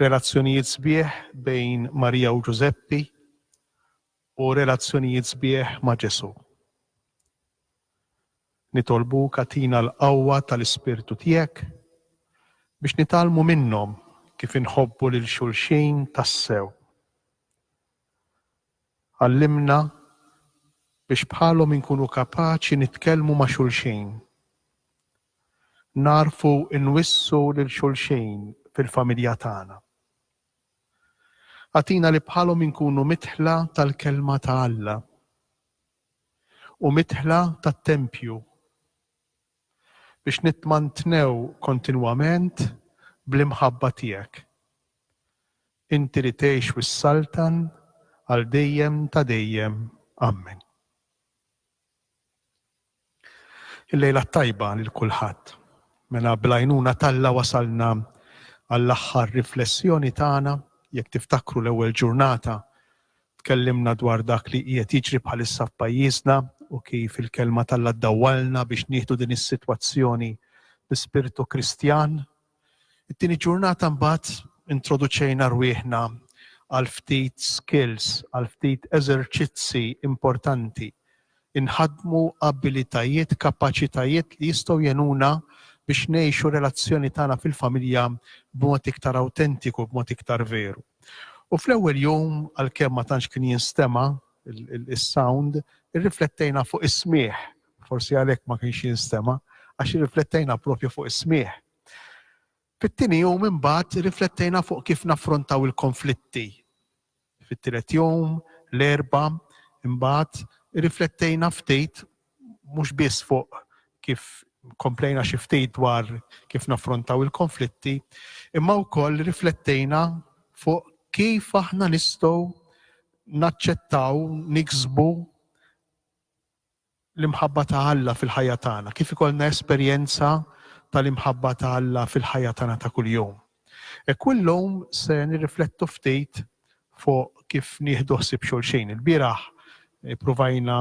Relazzjonijiet sbieħ bejn Marija u Ġużeppi u relazzjonijiet sbieħ ma' Ġesù. Nitolbuk agħtina l-qawwa tal-Ispirtu tiegħek biex nitgħallmu minnhom kif inħobbu lil xulxin tassew. Għallimna biex bħalhom inkunu kapaċi nitkellmu ma' xulxin nagħrfu nwissu lil xulxin fil-familja tagħna. Agħtina li bħalhom inkunu midħla tal-Kelma ta' Alla u midħla tat-tempju biex nitmantnew kontinwament bl-imħabba tiegħek, inti li tgħix u ssaltan għal dejjem ta' dejjem. Ammen. Il-lejla t-tajba lil kulħadd. Mela bl-għajnuna t'Alla wasalna għall-aħħar riflessjoni tagħna. Jekk tiftakru l-ewwel ġurnata tkellimna dwar dak li qiegħed jiġri bħalissa f'pajjiżna u kif il-Kelma t'Alla ddawwalna biex nieħdu din is-sitwazzjoni bi spirtu Kristjan It-tieni ġurnata mbagħad introduċejna rwieħna għal ftit skills, għal ftit eżerċizzi importanti. Inħaddmu abilitajiet, kapaċitajiet li jistgħu jenuna biex ngħixu relazzjoni tagħna fil-familja b'mod iktar awtentiku, b'mod iktar veru. U fl-ewwel jum għalkemm ma tantx kien jinstema' is-sound, irriflettejna fuq is-smigħ Forsi għalhekk ma kienx jinstema', għax irriflettejna proprju fuq is-smigħ. Fit-tieni jum imbagħad irriflettejna fuq kif naffrontaw il-konflitti. Fit-tielet jum, l-Erbgħa, imbagħad irriflettejna ftit mhux biss fuq kif komplejna xi ftit dwar kif naffrontaw il-konflitti, imma wkoll riflettejna fuq kif aħna nistgħu naċċettaw, niksbu l-imħabba ta' Alla fil-ħajja tagħna, kif ikollna esperjenza tal-imħabba ta' Alla fil-ħajja tagħna ta' kuljum. Hekk hu llum se nirriflettu ftit fuq kif nieħdu ħsieb xulxin. Ilbieraħ ippruvajna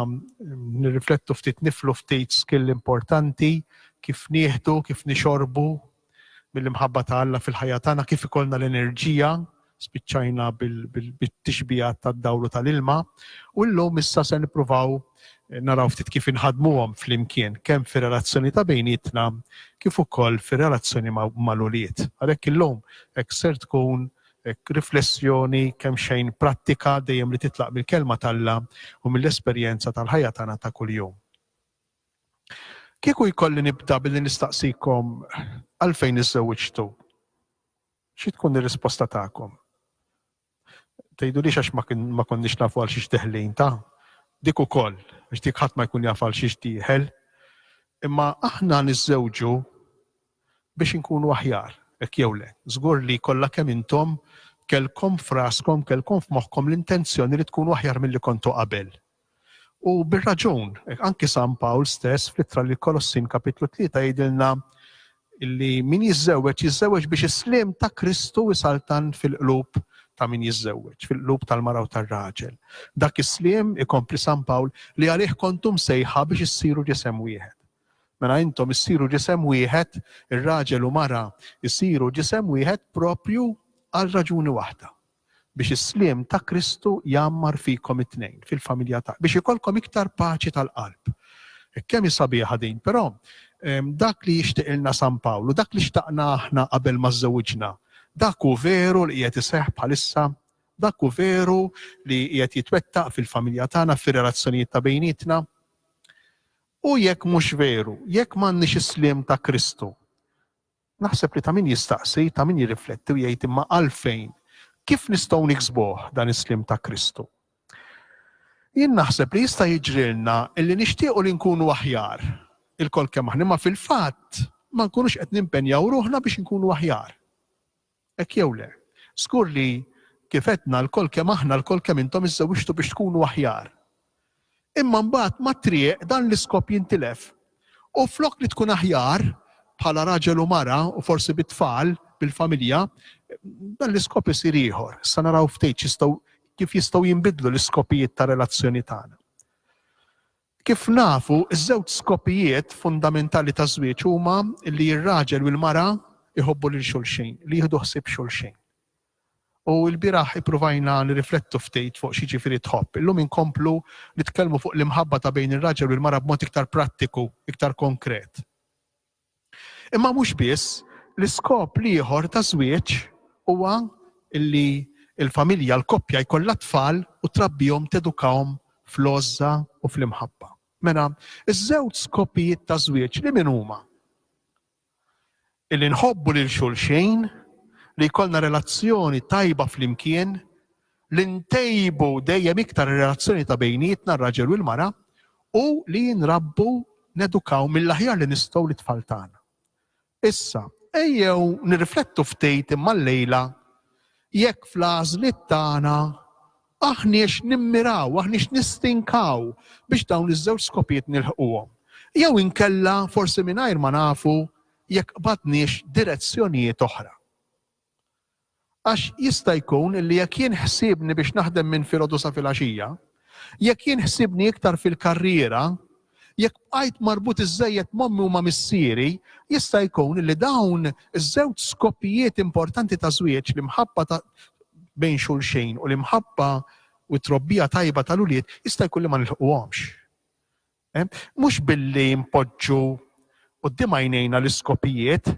nirriflettu ftit, niflu ftit skill importanti, kif nieħdu, kif nixorbu, mill-imħabba ta' Alla fil-ħajja tagħna kif ikollna l-enerġija, spiċċajna bit-tixbihat tad-dawl u tal-ilma, u llum issa se nippruvaw naraw ftit kif inħadmuhom flimkien, kemm fir-relazzjoni ta' bejnietna kif ukoll fir-relazzjoni mal-ulied. Għalhekk illum hekk ser tkun riflessjoni kemm xejn prattika dejjem li titlaq mill-Kelma t'Alla u mill-esperjenza tal-ħajja tagħna ta' kuljum. Kieku jkolli nibda billi nistaqsikom għalfejn iżżewwiġtu, xi tkun ir-risposta tagħkom? Tgħidulix għax ma konniex nafu għal xiex deħlin ta? Dik ukoll, għax dik ħadd ma jkun jaf għal xiex dieħel. Imma aħna niżżewġu biex inkunu aħjar, hekk jew le. Żgur li kollha kemm intom kellkom f'raskom, kellkom f'moħħkom l-intenzjoni li tkunu aħjar milli kontu qabel. U bir-raġun, anki San Pawl stess fl-Ittra lill-Kolossin Kapitlu Tlieta jgħidilna li min jiżżewweġ jiżżewweġ biex is-sliem ta' Kristu jsaltan fil-qlub ta' min jiżżewweġ, fil-qlub tal-mara u tar-raġel. Dak is-sliem, ikompli San Pawl, li għalih kontu msejħa biex issiru ġisem wieħed. Mela intom issiru ġisem wieħed, ir-raġel u mara jsiru ġisem wieħed proprju għal raġuni waħda, biex is-sliem ta' Kristu jgħammar fikom it-tnejn, fil-familja ta', biex ikollkom iktar paċi tal-qalb. Kemm hi sabiħa din, però dak li jixtiqilna San Pawl u dak li xtaqna aħna qabel ma żżewġna, dak hu veru li qiegħed iseħħ bħalissa, dak hu veru li qiegħed jitwettaq fil-familja tagħna, fir-relazzjonijiet ta' bejnietna. U jekk mhux veru, jekk m'għandniex is-sliem ta' Kristu, naħseb li ta' min jistaqsi, ta' min jirrifletti u jgħid imma għalfejn? Kif nistgħu niksbuh dan is-sliem ta' Kristu? Jien naħseb li jista' jiġrilna li nixtiequ li nkunu aħjar ilkoll kemm aħna, imma fil-fatt ma nkunux qed nimpenjaw ruħna biex inkunu aħjar. Hekk jew le, żgur li, kif għedna, lkoll kemm aħna, lkoll kemm intom iżżewwiġtu biex tkunu aħjar. Imma mbagħad mat-triq dan l-iskop jintilef. U flok li tkun aħjar, bħala raġel u mara, u forsi bit-tfal, bil-familja, dan l-iskop isir ieħor. Issa naraw ftit x'jistgħu, kif jistgħu jinbidlu l-iskopijiet tar-relazzjoni tagħna. Kif nafu, iż-żewġ skopijiet fundamentali taż-żwieġ huma li r-raġel u l-mara jħobbu lil xulxin, li jieħdu ħsieb xulxin. U ilbieraħ ippruvajna nirriflettu ftit fuq x'jiġifieri tħobb. Illum inkomplu nitkellmu fuq l-imħabba ta' bejn ir-raġel u l-mara b'mod iktar prattiku, iktar konkret. Imma mhux biss, l-iskop l-ieħor ta' żwieġ huwa li l-familja, l-koppja jkollha t-tfal u trabbihom, tedukahom fl-għożża u fl-imħabba. Mela, iż-żewġ skopijiet ta' żwieġ li min huma? Illi nħobbu lil xulxin, li jkollna relazzjoni tajba flimkien, li ntejbu dejjem iktar ir-relazzjoni ta' bejnietna r-raġel u l-mara u li nrabbu, nedukaw mill-aħjar li nistgħu lit-tfal tagħna. Issa, ejjew nirriflettu ftit imma llejla jekk fl-għażliet tagħna aħniex nimmiraw, aħniex nistinkaw biex dawn iż-żewġ skopijiet nilħquhom. Jew inkella forsi mingħajr ma nafu jekk qbadniex direzzjonijiet oħra. Għax jista' jkun li jekk jien ħsiebni biex naħdem minn filgħodu sa filgħaxija, jekk jien ħsiebni iktar fil-karriera, jekk bqajt marbut iżżejjed m'ommi u ma' missieri, jista' jkun li dawn iż-żewġ skopijiet importanti ta' żwieġ, l-imħabba ta' bejn xulxin u l-imħabba u t-trobbija tajba tal-ulied, jista' jkun li ma nilħquhomx. Mhux billi npoġġu quddiem għajnejna l-iskopijiet,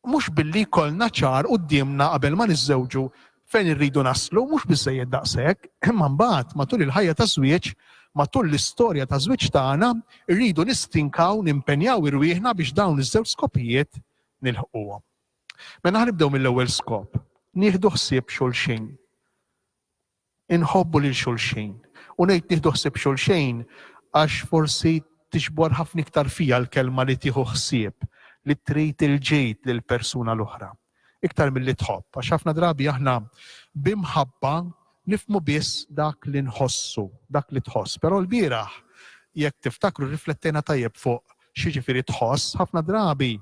mhux billi jkollna ċar quddiemna qabel ma niżżewġu fejn irridu naslu, mhux biżżejjed daqshekk, imma mbagħad matul il-ħajja taż-żwieġ, matul l-istorja taż-żwieġ tagħna, irridu nistinkaw, nimpenjaw irwieħna biex dawn iż-żewġ skopijiet nilħquhom. Mela ħa nibdew mill-ewwel skop, nieħdu ħsieb xulxin. Inħobbu lil xulxin. U ngħid nieħdu ħsieb xulxin għax forsi tixbor ħafna iktar fija l-kelma li tieħu ħsieb, li trid il-ġid lill-persuna l-oħra, iktar milli tħobb, għax ħafna drabi aħna b'imħabba nifhmu biss dak li nħossu, dak li tħoss. Però lbieraħ, jekk tiftakru, rriflettejna tajjeb fuq x'jiġifieri tħoss, ħafna drabi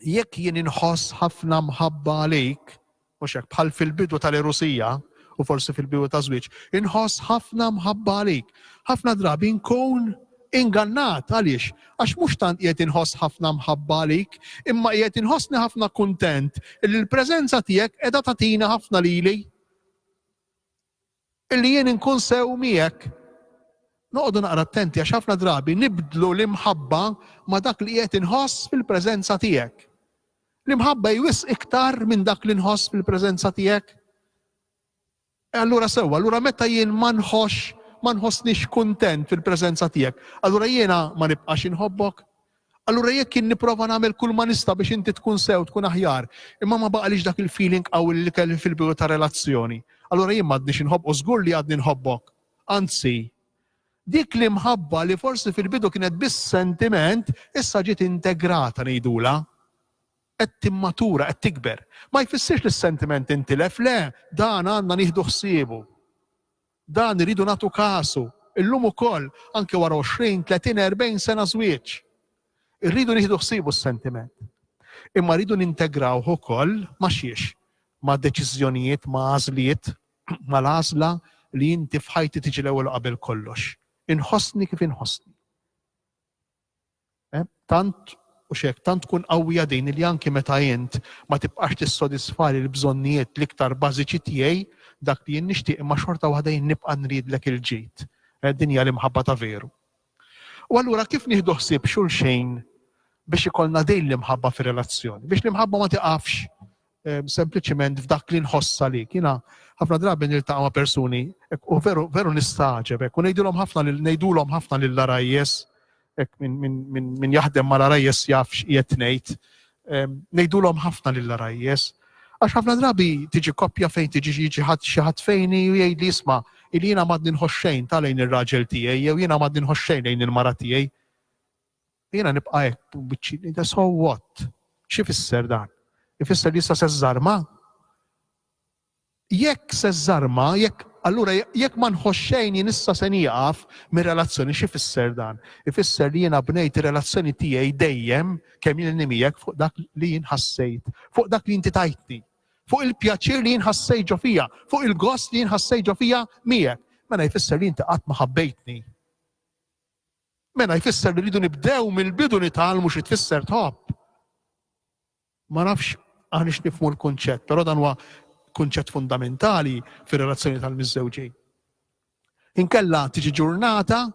Jekk jien inħoss ħafna mħabba għalik, mhux hekk, bħal fil-bidu tal-erusija u forsi fil-bidu taż-żwieġ, inħoss ħafna mħabba għalik. Ħafna drabi nkun ingannat għaliex għax mhux tant qiegħed inħoss ħafna mħabba għalik, imma qiegħed inħossni ħafna kuntent li l-preżenza tiegħek qiegħda tagħtina ħafna lili. Illi jien inkun sew miegħek. Noqogħdu naqra attenti għax ħafna drabi nibdlu l-imħabba ma' dak li qiegħed inħoss fil-preżenza tiegħek. L-imħabba hi wisq iktar minn dak li nħoss fil-preżenza tiegħek. E allura sewwa, allura meta jien ma nħossx ma nħossnix kuntent fil-preżenza tiegħek, allura jiena ma nibqax inħobbok? Allura jekk jien nipprova nagħmel kull ma nista' biex inti tkun sew, tkun aħjar, imma ma baqalix dak il-feeling qawwi li kelli fil-bidu ta' relazzjoni, allura jien m'għadnix inħobb u żgur li għadni nħobbok. Anzi, dik l-imħabba li forsi fil-bidu kienet biss sentiment, issa ġiet integrata ngħidulha. Qed timmatura, qed tikber. Ma jfissirx li s-sentiment intilef, le, dan għandna nieħdu ħsiebu. Dan irridu nagħtu kasu illum ukoll, anke wara għoxrin, tletin, erbgħin sena żwieġ. Irridu nieħdu ħsiebu s-sentiment. Imma rridu nintegrawh ukoll ma' xiex? Ma' deċiżjonijiet, ma' għażliet, mal-għażla li inti f'ħajti tiġi l-ewwel u qabel kollox. Inħossni kif inħossni. Tant u x'hekk, tant tkun qawwija din li anki meta int ma tibqax tissodisfali l-bżonnijiet l-iktar bażiċi tiegħi, dak li jien nixtieq imma xorta waħda jien nibqa' nridlek il-ġid. Din hija l-imħabba ta' veru. U allura kif nieħdu ħsieb xulxejn biex ikollna din l-imħabba fir-relazzjoni? Biex l-imħabba ma tiqafx. sempliċiment f'dak li nħossa li kiena ħafna drabi niltaqa' ma' persuni u veru veru nistagħġeb hekk u ngħidulhom ħafna lil ngħidulhom ħafna lil arajjes hekk minn min, min, min jaħdem mal arajjes jaf x'qiegħed ngħid. Ngħidulhom ħafna lil arajjes. Għax ħafna drabi tiġi koppja fejn tiġi jiġi ħadd xi ħadd fejni u jgħid li isma' il jiena m'għadni nħoxxejn ta' lejn ir-raġel tiegħi jew jiena m'għadni nħoxxejn lejn il-mara tiegħi. Jiena nibqa' hekk u biċċi nida so what? X'ifisser dan? Ifisser li issa se żżarma? Jekk se żżarma, jekk allura jekk ma nħoss xejn jien issa se nieqaf mir-relazzjoni x'ifisser dan? Ifisser li jiena bnejt ir-relazzjoni tiegħi dejjem kemm jilni miegħek fuq dak li jien ħassejt, fuq dak li inti tajtni, fuq il-pjaċir li jien ħassejt ġo fija, fuq il-gost li jien ħassejt ġo fija miegħek. Mela jfisser li inti qatt ma ħabbejtni. Mela jfisser li rridu nibdew mill-bidu nitgħallmu xi tfisser tħobb. Ma nafx aħniex nifmu l-kunċett, però dan huwa kunċett fundamentali fir-relazzjoni tal-miżżewġin. Inkella tiġi ġurnata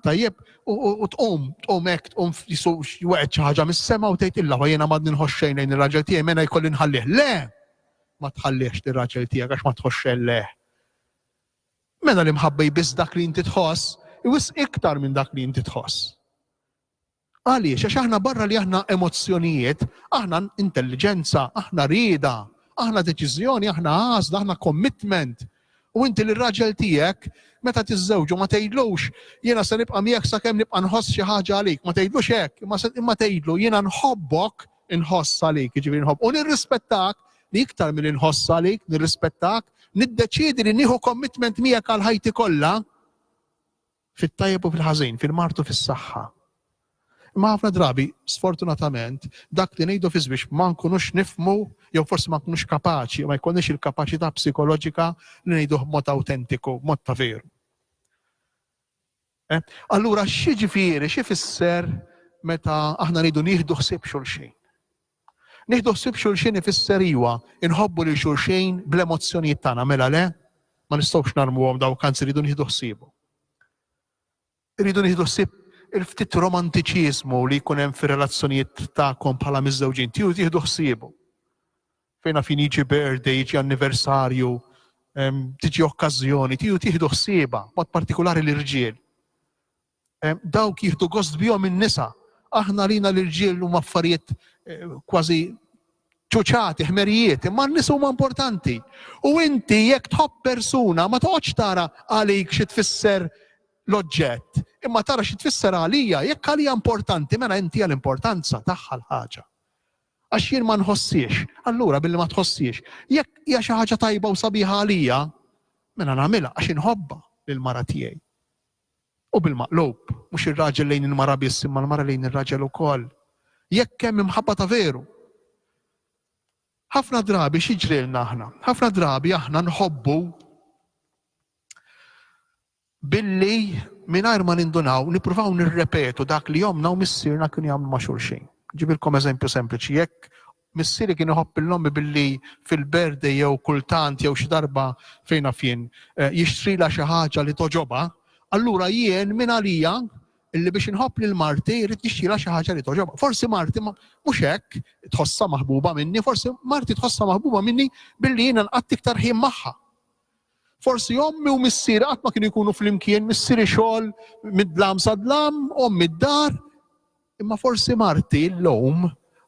tajjeb u tqum, tqum hekk tqum jweqgħet xi ħaġa mis-sema u tgħid illa jiena ma nħoxxejn lejn ir-raġel tiegħi mena jkolli nħallih. Le! Ma tħallihx lir-raġel tiegħek għax ma tħoxxel leh. Mela l-imħabba hi biss dak li inti tħoss, hi wisq iktar minn dak li inti tħoss. Għaliex? Għax aħna barra li aħna emozzjonijiet, aħna intelliġenza, aħna rieda, aħna deċiżjoni, aħna għażla, aħna commitment. U inti li raġel tiegħek meta tiżżewġu ma tgħidlux jiena se nibqa' miegħek sakemm nibqa' nħoss xi ħaġa għalik, ma tgħidlux hekk, imma tgħidlu jiena nħobbok inħoss għalik, jiġifieri nħobb u nirrispettak li iktar milli nħoss għalik, nirrispettak, niddeċiedi li nieħu commitment miegħek għal ħajti kollha fit-tajjeb u fil-ħażin, fil-martu fis-saħħa. Imma ħafna drabi, sfortunatament, dak li ngħidu fiż biex ma nkunux nifmu jew forsi ma nkunux kapaċi, ma jkunniex il-kapaċità psikoloġika li ngħidu b'mod awtentiku, b'mod ta' veru. Eħe, allura x'jiġifieri, x'ifisser meta aħna rridu nieħdu ħsieb xulxin? Nieħdu ħsieb xulxin ifisser iwa, inħobbu lil xulxin bl-emozzjonijiet tagħna, mela le? Ma nistgħux narmuhom dawk anzi rridu nieħdu ħsiebu. Irridu nieħdu ħsieb il-ftit romantiċiżmu li jkun hemm fir-relazzjonijiet tagħkom bħala miżżewġin, tieħdu ħsiebu. Fejna fin jiġi birthday, jiġi anniversarju, tiġi okkażjoni, tiju tieħdu ħsieba, mod partikolari l-irġiel. Dawk jieħdu gost bihom in-nisa. Aħna lina l-irġiel huma affarijiet eh, kważi ċuċati, ħmerijiet, imma n-nis huma importanti. U inti jekk tħobb persuna ma toqgħodx tara għalik xi tfisser l-oġġett, imma tara xi tfisser għalija, jekk għalija importanti, mela inti għal-importanza tagħha l-ħaġa. Għax jien ma nħossiex. Allura billi ma tħossiex, jekk hija xi ħaġa tajba u sabiħa għalija, mela nagħmilha għax inħobbha lill-mara tiegħi. U bil-maqlub, mhux ir-raġel lejn il-mara biss imma l-mara lejn ir-raġel ukoll. Jekk hemm imħabba ta' veru. Ħafna drabi x'jiġrilna aħna? Ħafna drabi aħna nħobbu Billi, mingħajr ma nindunaw, nippruvaw nirrepetu dak li ommna u missierna kienu jagħmlu ma' xulxin. Nġibilkom eżempju sempliċi, jekk missieri kien iħobb lil ommi billi fil-birthday jew kultant jew xi darba, fejn naf jien, jixtrilha xi ħaġa li togħġobha, allura jien minn għalija li biex inħobb lil marti rrid nixtrilha xi ħaġa li togħġobha. Forsi marti ma, mhux hekk, tħossha maħbuba minni, forsi marti tħossha maħbuba minni billi jiena nqatt' iktar ħin magħha. Forsi ommi u missieri qatt ma kienu jkunu flimkien, missieri xogħol mid-dlam sa dlam, ommi d-dar. Imma forsi marti llum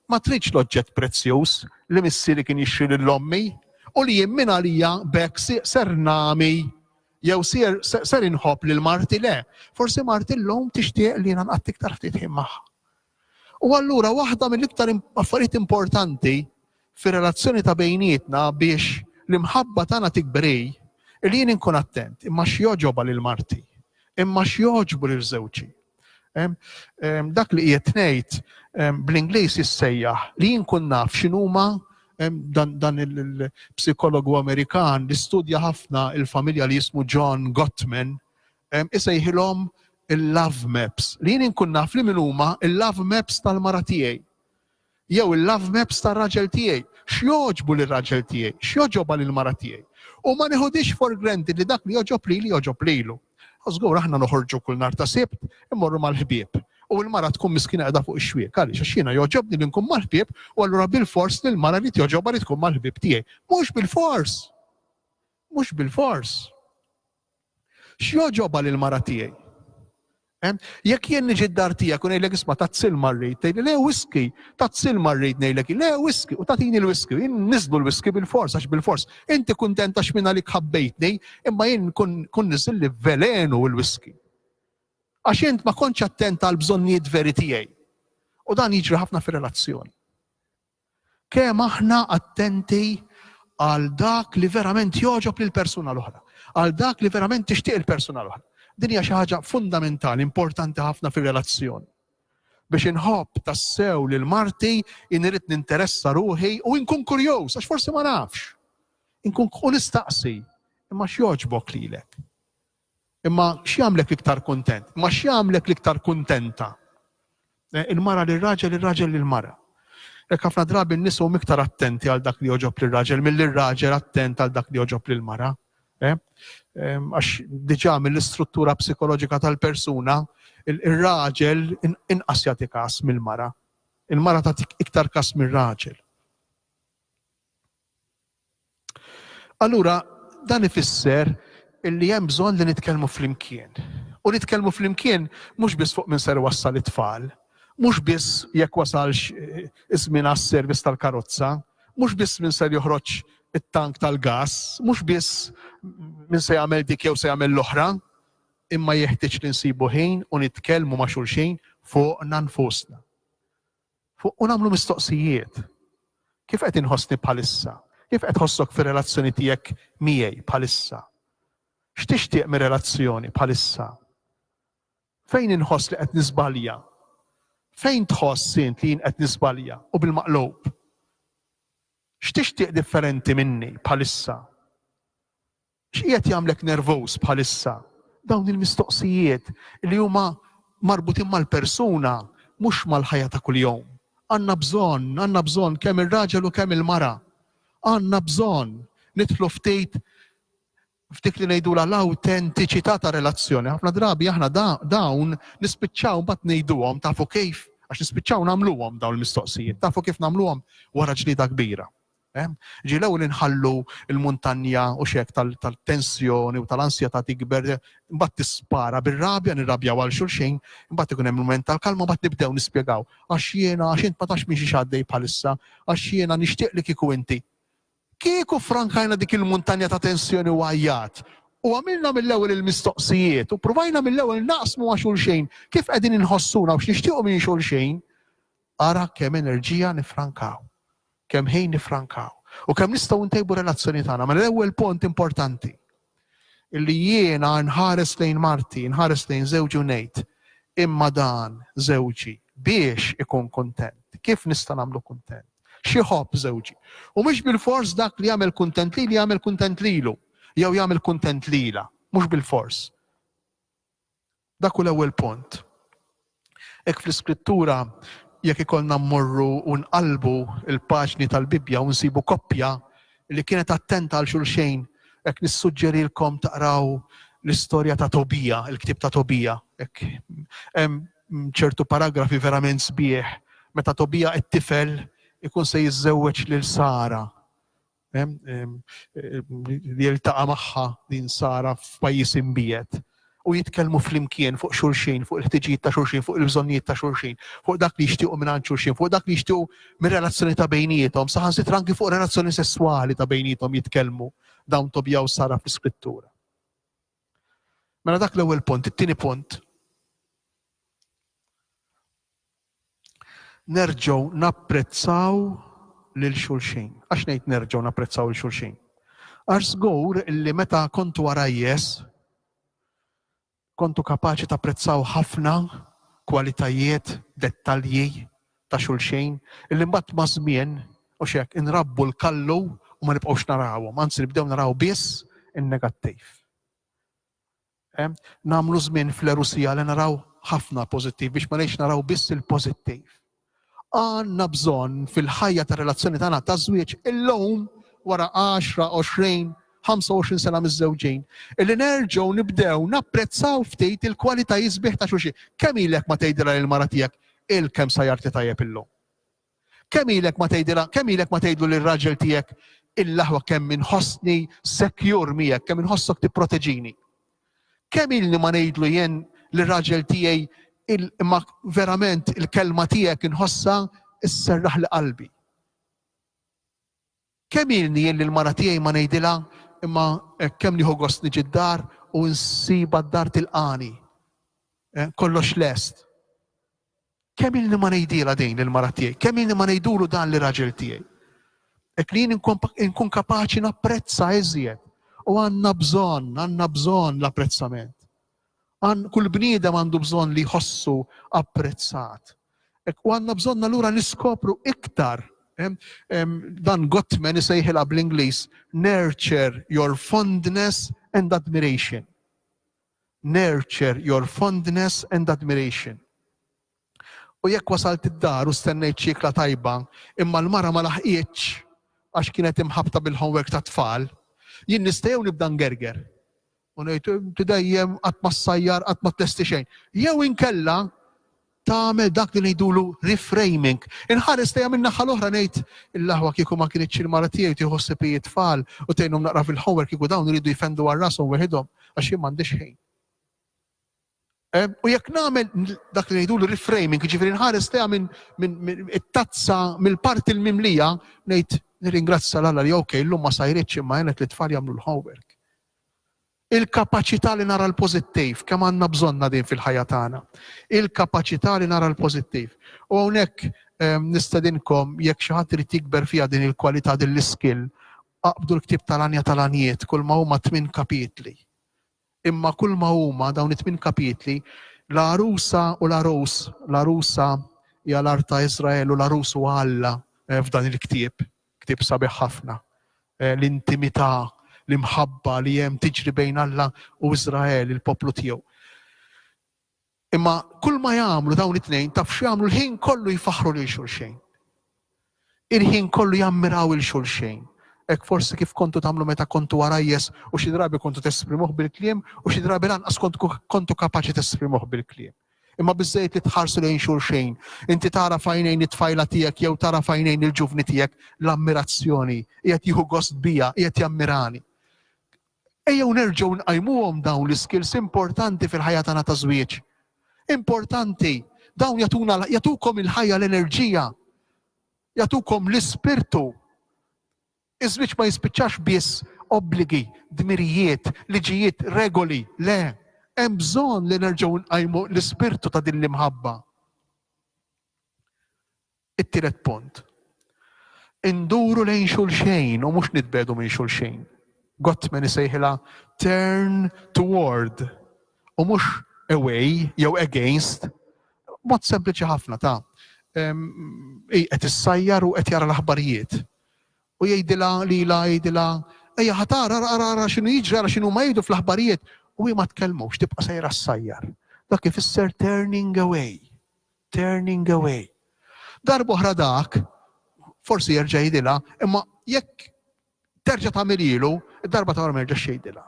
ma tridx l-oġġett prezzjuż li missieri kien jixtri lil ommi u li jien minn għalija b'hekk ser nami jew ser ser inħobb lil marti le. Forsi marti llum tixtieq li jiena nqatt iktar ftit ħin magħha. U allura waħda mill-iktar affarijiet importanti fir-relazzjoni ta' bejnietna biex l-imħabba tagħna tikber hi li jien inkun attent imma x'jogħġobha lil marti, imma x'jogħġbu lil żewġi. Dak li qiegħed ngħid bl-Ingliż jissejjaħ li jien kun naf x'inhuma dan il-psikologu Amerikan li studja ħafna il-familja li jismu John Gottman, isejħilhom il-love maps, li jien inkun naf li min huma l-love maps tal-mara tiegħi jew il-love maps tar-raġel tiegħi, x'jogħġbu lir-raġel tiegħi, x'jogħġobha lill-mara tiegħi. U ma nieħudhiex for granted li dak li jogħġob lili jogħġob lilu. Żgur aħna noħorġu kull nhar ta' Sibt immorru mal-ħbieb u l-mara tkun miskina qiegħda fuq ix-xwiek għaliex għax jiena jogħġobni li nkun mal-ħbieb u allura bil-fors li l-mara li tjoġobha li tkun mal-ħbieb tiegħi. Mhux bil-fors! Mhux bil-fors! X'jogħġobha lill-mara tiegħi? Jekk jien niġi d-dar tiegħek u ngħidlek isma' tazzil marrid, tgħidli le whisky, tazzil marrid ngħidlek le whisky u tagħtini l-whisky, jien niżlu l-whisky bil-fors għax bil-fors. Inti kuntenta x'min għalik ħabbejtni, imma jien kun niżilli velenu l-whisky. Għax int ma kontx attent għall-bżonnijiet veri tiegħi. U dan jiġri ħafna fir-relazzjoni. Kemm aħna attenti għal dak li verament jogħġob lill-persuna l-oħra, għal dak li verament tixtieq il-persuna l-oħra. Din hija xi ħaġa fundamentali, importanti ħafna fir-relazzjoni. Biex inħobb tassew lil marti, inrid ninteressa ruħi u inkun kurjuż, għax forsi ma nafx. Inkun u nistaqsi, imma x'jogħġbok lilek? Imma x'jagħmlek l-iktar kuntent? Imma x'jagħmlek l-iktar kuntenta? Eh, il-mara li raġel ir-raġel li l-mara. Jekk ħafna drabi n-nies huma iktar attenti għal dak li joġob li raġel milli r-raġel attent għal dak li joġob li l-mara. Eh, ehm, għax diġà mill-istruttura psikoloġika tal-persuna, ir-raġel inqas jagħti kas mill-mara. Il-mara tagħtik iktar kas mir-raġel. Allura, dan ifisser illi hemm bżonn li nitkellmu flimkien. U nitkellmu flimkien mhux biss fuq minn ser wassal it-tfal, mhux biss jekk wasalx eh, iż-żmien għas-servizz tal-karozza, mhux biss minn ser joħroġ it-tank tal-gas, mhux biss minn se jagħmel dik jew se jagħmel l-oħra, imma jeħtieġ li nsibu ħin u nitkellmu ma' xulxin fuqna nfusna. fuq u nagħmlu mistoqsijiet. Kif qed inħossni bħalissa? Kif qed ħossok fir-relazzjoni tiegħek miegħi bħalissa? X'tixtieq mir-relazzjoni bħalissa? Fejn inħoss li qed niżbalja? Fejn tħoss int li jien qed niżbalja u bil-maqlub? X'tixtieq differenti minni bħalissa? X'qiegħed jagħmlek nervuż bħalissa? Dawn il-mistoqsijiet li huma marbutin mal-persuna mhux mal-ħajja ta' kuljum. Għandna bżonn, għandna bżonn kemm ir-raġel u kemm il-mara. Għandna bżonn nidħlu ftit f'dik li ngħidulha l-awtentiċità ta' relazzjoni. Ħafna drabi aħna dawn nispiċċaw mbagħad ngħiduhom tafu kif għax nispiċċaw nagħmluhom dawn il-mistoqsijiet. Tafu kif nagħmluhom wara ġlieda kbira. Ehm, ġie l-ewwel inħallu l-muntanja u x'hekk tal-tensjoni u tal-ansjetà tikber, imbagħad tispara bir-rabja, nirrabjaw għal xulxin, imbagħad ikun hemm mument tal-kalma, imbagħad nibdew nispjegaw. Għax jiena, għax int ma tafx minn xi x'għaddej bħalissa, għax jiena nixtieq li kieku inti. Kieku frankajna dik il-muntanja ta' tensjoni u għajjat, u għamilna mill-ewwel il-mistoqsijiet u provajna mill-ewwel naqsmu għax xulxin kif qegħdin inħossuna u x'nixtiequ minn xulxin, ara kemm enerġija nifrankaw. Kemm ħin niffrankaw u kemm nistgħu ntejbu r-relazzjoni tagħna. Mela l-ewwel punt importanti li jiena nħares lejn marti, nħares lejn żewġi u ngħid, imma dan żewġi biex ikun kuntent. Kif nista' nagħmlu kuntent? Xi ħobb żewġi. U mhux bilfors dak li jagħmel kuntent lili jagħmel kuntent lilu jew jagħmel kuntent lilha, mhux bilfors. Dak hu l-ewwel punt. Hekk fl-Iskrittura jekk ikollna mmorru u nqallbu l-paġni tal-Bibbja u nsibu koppja li kienet attenta għal xulxejn, hekk nissuġġerilkom taqraw l-istorja ta' Tobija, il-ktieb ta' Tobija. Hekk hemm ċertu paragrafi verament sbieħ meta Tobija it-tifel ikun se jiżżewweġ lil Sara. li jiltaqa' magħha din Sara f'pajjiż imbiegħed u jitkellmu flimkien fuq xulxin, fuq il-ħtiġijiet ta' xulxin, fuq il-bżonnijiet ta' xulxin, fuq dak li jixtiequ mingħand xulxin, fuq dak li jixtiequ mir-relazzjoni ta' bejniethom, saħansitra anki fuq relazzjoni sesswali ta' bejniethom jitkellmu dawn Tobija u Sara fl-Iskrittura. Mela dak l-ewwel punt, it-tieni punt. Nerġgħu napprezzaw lil xulxin. Għax ngħid nerġgħu napprezzaw lil xulxin? Għax żgur li meta kontu għarajjes, kontu kapaċi tapprezzaw ħafna kwalitajiet, dettalji ta' xulxin, illi mbagħad ma' żmien u xek inrabbu l-kallu u ma nibqgħux narawhom, anzi nibdew naraw biss in-negattiv. Nagħmlu żmien fl-għerusija li naraw ħafna pożittiv biex ma ngħidx naraw biss il-pożittiv. Għandna bżonn fil-ħajja tar-relazzjoni tagħna taż-żwieġ illum wara għaxra, għoxrin, 25 sena miżżewġin, illi nerġgħu nibdew napprezzaw ftit il-kwalitajiet sbieħ ta' xulxin. Kemm ilek ma tgħidilha lill-mara tiegħek il-kemm sajjarti tajjeb illum? Kemm ilek ma tgħidilha, kemm ilek ma tgħidlu lir-raġel tiegħek il-aħwa kemm inħossni secure miegħek, kemm inħossok tipproteġini. Kemm ilni ma ngħidlu jien lir-raġel tiegħi imma verament il-kelma tiegħek inħossha sserraħ li qalbi. Kemm ilni jien lill-mara tiegħi ma ngħidilha, imma kemm nieħu gost niġi d-dar u nsibha d-dar tilqagħni. Kollox lest. Kemm ilni ma ngħidilha din lill-mara tiegħi, kemm ilni ma ngħidulu dan lir-raġel tiegħi. Hekk li jien inkun kapaċi napprezza iżjed. U għandna bżonn, għandna bżonn l-apprezzament. Għan kull bniedem għandu bżonn li jħossu apprezzat. U għandna bżonn allura niskopru iktar dan Gottman isejħilha bl-Ingliż nurture your fondness and admiration. Nurture your fondness and admiration. U jekk wasalt id-dar u stennejt xi ikla tajba, imma l-mara ma laħqitx għax kienet imħabbta bil-homework tat-tfal, jien nista' jew nibda ngerger u ngħid, Inti dejjem qatt ma ssajjar, qatt ma tlesti xejn. Jew inkella tagħmel dak li ngħidulu reframing. Inħares lejha min-naħa l-oħra ngħid, Il-aħwa kieku ma kinitx il-mara tiegħi tieħu ħsieb hi t-tfal u tgħinhom naqra fil-homework kieku dawn iridu jfendu għal rashom weħidhom għax jien m'għandix ħin. Eh, u jekk nagħmel dak li ngħidu l-reframing, jiġifieri nħares teha minn min, it-tazza mill-parti l-mimlija ngħid nirringrazzja l li ok, llum ma sajritx imma għenet li tfal jagħmlu l-homework. Il-kapaċità li nara l-pożittiv kemm għandna bżonna din fil-ħajja tagħna. Il-kapaċità li nara l-pożittiv. U hawnhekk eh, nistedinkom jekk xi ħadd irid jikber fiha din il-kwalità din l-iskill, aqbdu l-ktib tal-anja tal-anjiet kull ma huma tmien kapitli Imma kulma huma dawn it-tmien kapitli, l-għarusa u l-għarus, l-għarusa hija l-art ta' Iżrael u l-għarus huwa Alla f'dan il-ktieb, ktieb sabiħ ħafna. L-intimità, l-imħabba li hemm tiġri bejn Alla u Iżrael, il-poplu tiegħu. Imma kulma jagħmlu dawn it-tnejn taf x'jagħmlu l-ħin kollu jfaħħru lil xulxejn. Il-ħin kollu jammiraw 'il xulxejn. Hekk forsi kif kontu tagħmlu meta kontu għarajjes u xi drabi kontu tesprimuh bil-kliem u xi drabi lanqas kontu kapaċi tesprimuh bil-kliem. Imma biżżejjed li tħarsu lejn xulxejn, inti tara f'għajnejn it-tfajla tiegħek jew tara f'għajnejn il-ġuvni tiegħek l-ammirazzjoni, qiegħed jieħu gost bija, qiegħed jammirani. Ejjew nerġgħu nqajmuhom dawn l-iskills importanti fil-ħajja tagħna ta' żwieġ. Importanti, dawn jagħtuna jagħtukom il-ħajja l-enerġija, jagħtukom l-ispirtu. Iż-żwieġ ma jispiċċax biss obbligi, dmirijiet, liġijiet, regoli, le. Hemm bżonn li nerġgħu nqajmu l-ispirtu ta' din l-imħabba. It-tielet punt, induru lejn xulxejn u mhux nitbegħdu minn xulxejn. Gottman isejħilha turn toward u mhux away jew against. Mod sempliċi ħafna ta' hi qed issajjar u qed jara l-aħbarijiet. U jgħidilha lilha jgħidilha ejja ħatara ara ara x'inhu jiġri ara x'inhu ma jgħidu fl-aħbarijiet u hi ma tkellmux tibqa' sejra ssajjar. Dak ifisser turning away. Turning away. Darb'oħra dak, forsi jerġa' jgħidilha, imma jekk terġa' tagħmililu, id-darba ta' wara ma jerġax jgħidilha.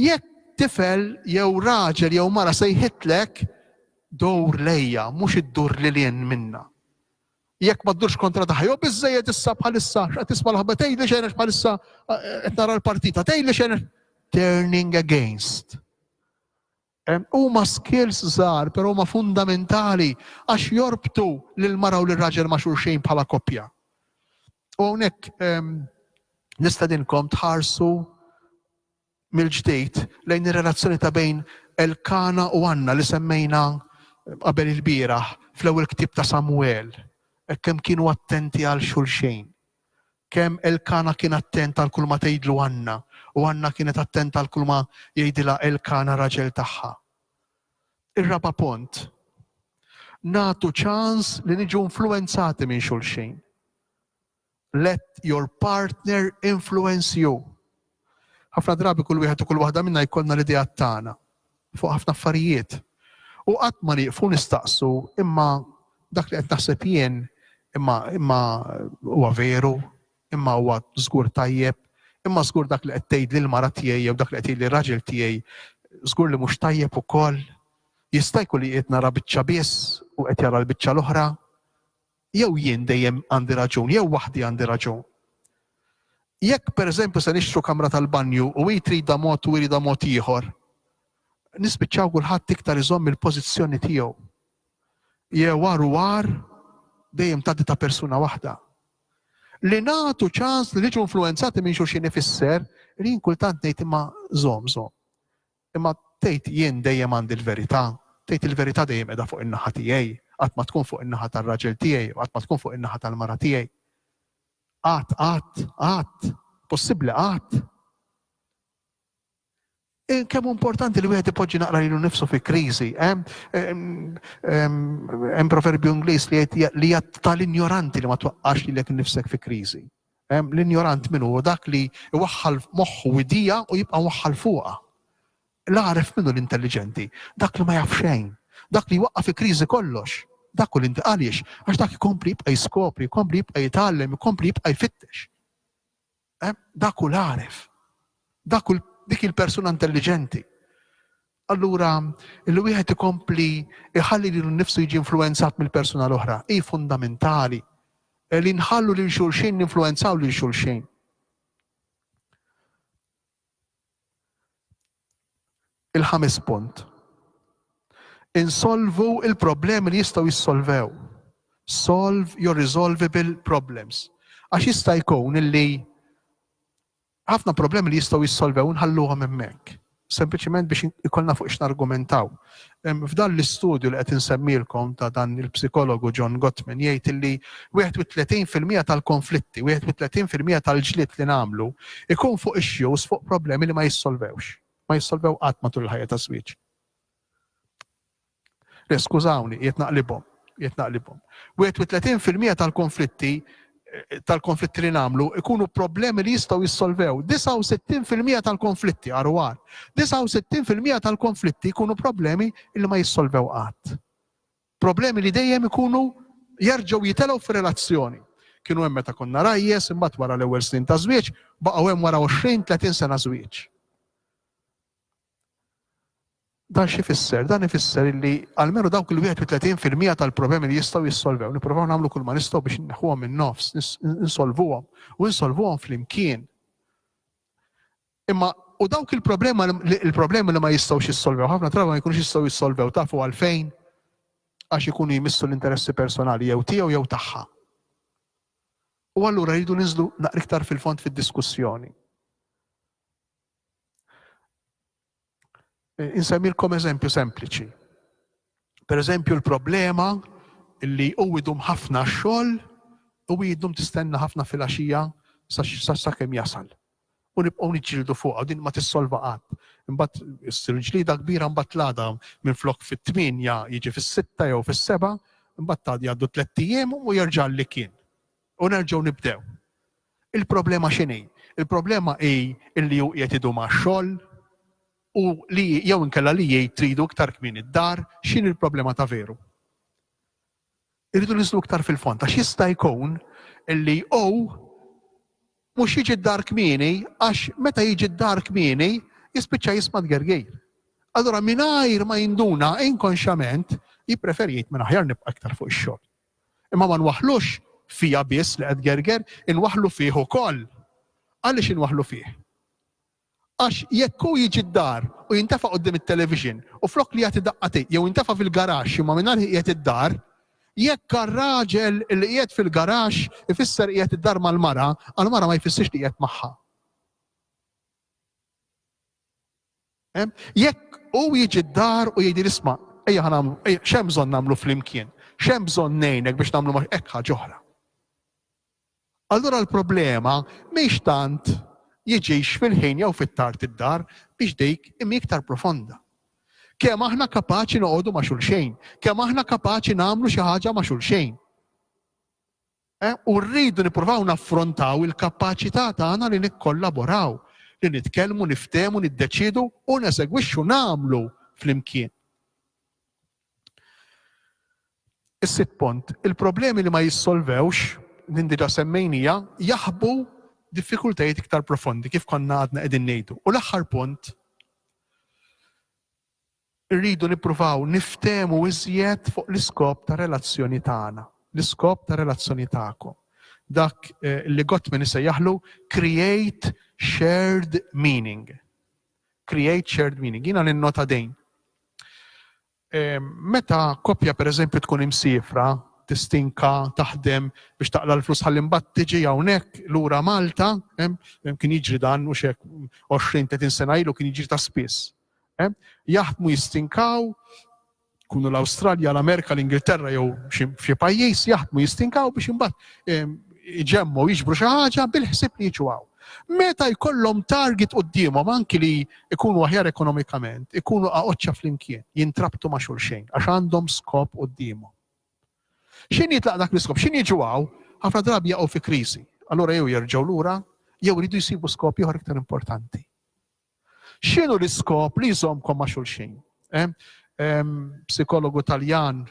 Jekk tifel jew raġel jew mara sejħitlek dowr lejja, mhux iddur lil hinn minna. Jekk ma ddurx kontra taħjo, biżejjed issa bħalissa, qed tisma' l-ħabba tgħidli xejn bħalissa qed nara l-partita, tgħidli xejn turning against. Huma skills żgħar però huma fundamentali għax jorbtu lill-mara u lir-raġel ma' xulxin bħala koppja. U hawnhekk nistedinkom tħarsu mill-ġdid lejn ir-relazzjoni ta' bejn Elkana u Anna li semmejna qabel ilbieraħ fl-ewwel ktieb ta' Samwel, hekk kemm kienu attenti għal xulxin. Kemm Elkana kien attent għal kulma tgħidlu Għanna, u Għanna kienet attenta għal kulma jgħidilha Elkana raġel tagħha. Ir-raba' pont, nagħtu ċans li niġu influwenzati minn xulxin. Let your partner influence you. Ħafna drabi kull wieħed u kull waħda minna jkollna l-ideat tagħna fuq ħafna affarijiet. U qatt ma nieqfu nistaqsu imma dak li qed naħseb jien imma imma huwa veru, imma huwa żgur tajjeb, imma żgur dak li qed tgħid lil mara tiegħi jew dak li qed li raġel tiegħi żgur li mhux tajjeb ukoll. Jista' jkun li qed nara biċċa biss u qed jara l-biċċa l-oħra. Jew jien dejjem għandi raġun, jew waħdi għandi raġun. Jekk pereżempju se nixtru kamra tal-banju u hi tridha mod u jridha mod ieħor, nispiċċaw kulħadd iktar iżomm il-pożizzjoni tiegħu. Jew għar u għar dejjem tgħaddi ta' persuna waħda. Li nagħtu ċans li niġu influenzati minn xulxin ifisser li jien kultant ngħid imma żomm żomm. Imma tgħid jien dejjem għandi l-verità, tgħid il-verità dejjem qiegħda fuq in-naħa tiegħi, qatt ma tkun fuq in-naħa tar-raġel tiegħi u qatt ma tkun fuq in-naħa tal-mara tiegħi. Qatt, qatt, qatt. Possibbli qatt. Eh, kemm importanti li wieħed ipoġġi naqra lilu nifsu fi kriżi. Eh? Hemm proverbju Ingliż li jgħid li tal-injoranti li ma twaqqax lilek nifsek fi kriżi. L-injorant min hu? Hu dak li jwaħħal moħħu u jdija u jibqa' mwaħħal fuqha. L-għaref min hu? L-intelliġenti. Dak li ma jaf xejn. Dak li jwaqqaf fi kriżi kollox. Dak hu l-int. Għaliex? Għax dak ikompli jibqa' jiskopri, ikompli jibqa' jitgħallem, ikompli jibqa' jfittex. Dak hu l-għaref. Dak hu dik il-persuna intelliġenti. Allura, li wieħed ikompli jħalli lilu nnifsu jiġi influwenzat mill-persuna l-oħra hi fundamentali. Li nħallu lil xulxin ninfluwenzaw lil xulxin. Il-ħames punt. Insolvu il-problemi li jistgħu jissolvew. Solve your resolvable problems. Għax jista' jkun illi Ħafna problemi li jistgħu jissolvew inħalluhom hemmhekk, sempliċement biex ikollna fuq x'nargumentaw. F'dan l-istudju li qed insemmilkom ta' dan il-psikologu John Gottman jgħid illi 31 fil-mija tal-konflitti, 31 fil-mija tal-ġlied li nagħmlu ikun fuq issues, fuq problemi li ma jissolvewx. Ma jissolvew qatt matul il-ħajja taż-żwieġ. Le, skużawni, qiegħed naqlibhom, qiegħed naqlibhom. 31 fil-mija tal-konflitti tal-konflitti li nagħmlu ikunu problemi li jistgħu jissolvew. 69% tal-konflitti għaru għar. 69% tal-konflitti jkunu problemi li ma jissolvew qatt. Problemi li dejjem ikunu jerġgħu jitelgħu fir-relazzjoni. Kienu hemm meta konna rajjes, imbagħad wara l-ewwel snin ta' żwieġ, baqgħu hemm wara 20-30 sena żwieġ. Dan xi jfisser? Dan ifisser illi almenu dawk il-31 fil-mija tal-problemi li jistgħu jissolvew, nippruvaw nagħmlu kull ma nistgħu biex inneħħuhom minn nofs, insolvuhom u insolvuhom flimkien. Imma u dawk il-problema il-problemi li ma jistgħux jissolvew, ħafna drabi ma jkunux jistgħu jissolvew tafu għalfejn għax ikunu jmissu l-interessi personali jew tiegħu jew tagħha. U allura jridu niżlu naqriktar fil-fond fid-diskussjoni. Insemmilkom eżempju sempliċi. Per eżempju l-problema li u idum ħafna xogħol u idum tistenna ħafna fil-axija sa kemm jasal. U nibqgħu niġġieldu fuqha din ma tissolva qatt. Imbagħad issir ġlida kbira mbagħad tlada minn flok fit-tminja jiġi fis-sitta jew fis-seba' mbagħad tgħaddi għaddu tliet ijiem u jerġa' li kien. U nerġgħu nibdew. Il-problema x'inhi? Il-problema hi li hu qiegħed idum għax-xogħol u li jew inkella li jgħid tridu iktar kmieni d-dar, x'inhi l-problema ta' veru? Irridu niżlu iktar fil-fond għax jista' jkun li hu mhux jiġi d-dar kmieni għax meta jiġi d-dar kmieni jispiċċa jisma' tgergir. Allura mingħajr ma jinduna inkonxjament jippreferi jgħid minn aħjar nibqa' iktar fuq ix-xogħol. Imma ma nwaħħlux fija biss li qed tgerger, inwaħħlu fih ukoll. Għaliex inwaħħlu fih? Għax jekk hu jiġi d-dar u jintefa' quddiem it-television u flok li jagħti daqqatej jew jintefa' fil-garaxx imma mingħajr qiegħed id-dar, jekk għar-raġel li qiegħed fil-garaxx ifisser qiegħed id-dar mal-mara, għall-mara ma jfissirx li qiegħed magħha. Jekk hu jiġi d-dar u jgħidili isma' ejja ħa nagħmlu x'hemm bżonn nagħmlu flimkien, x'hemm bżonn ngħinek biex nagħmlu ma' hekk ħaġa oħra. Allura l-problema mhix tant jiġix fil-ħin jew fit-tard id-dar biex dik imi iktar profonda. Kemm aħna kapaċi noqogħdu ma' xulxejn, kemm aħna kapaċi nagħmlu xi ħaġa ma' xulxejn. U rridu nippruvaw naffrontaw il-kapaċità tagħna li nikkollaboraw, li nitkellmu, niftehmu, niddeċiedu u nesegwixxu, nagħmlu, flimkien. Is-sitt punt, il-problemi li ma jissolvewx, din diġà semmejnija, jaħbu diffikultajiet iktar profondi kif konna għadna qegħdin ngħidu. U l-aħħar punt, irridu nippruvaw niftehmu iżjed fuq l-iskop ta' relazzjoni tagħna, l-iskop ta' relazzjoni tagħkom. Dak eh, li Gottman isejjaħlu create shared meaning. Create shared meaning. Jiena ninnota dejn. Eh, meta koppja pereżempju tkun imsifra, tistinka, taħdem biex taqla l-flus ħalli mbagħad tiġi hawnhekk lura Malta, kien jiġri dan u xek 20-30 sena ilu kien jiġri ta' spiss. Jaħdmu, jistinkaw, jkunu l-Awstralja, l-Amerika, l-Ingilterra jew xi pajjiż, jaħdmu, jistinkaw biex imbagħad iġemmu jiġbru xi ħaġa bil-ħsieb li jiġu hawn. Meta jkollhom target quddiemhom anki li jkunu aħjar ekonomikament, ikunu aqoċċa flimkien, jintrabtu ma' xulxejn għax għandhom skop quddiemhom. X'in jitlaq dak l-iskop? X'in jiġu hawn? Ħafna drabi jaqgħu fi kriżi. Allura jew jerġgħu lura, jew iridu jsibu skop ieħor iktar importanti. X'inhu l-iskop li jżommkom ma' xulxin? Psikologu Taljan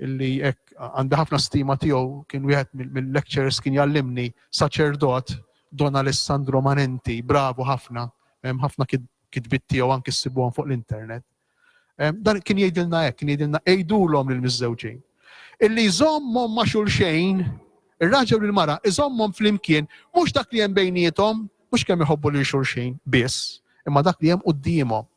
illi hekk għandi ħafna stima tiegħu kien wieħed mill-lecturers kien jgħallimni saċerdot Don Alessandro Manenti, bravu ħafna, hemm ħafna kitbiet tiegħu anki ssibuhom fuq l-internet. Dan kien jgħidilna hekk, kien jgħidilna għidulhom lil miżżewġin. Illi jżommhom ma' xulxejn, ir-raġel u l-mara, iżommhom flimkien, mhux dak li hemm bejniethom, mhux kemm iħobbu lil xulxin biss, imma dak li hemm quddiemhom.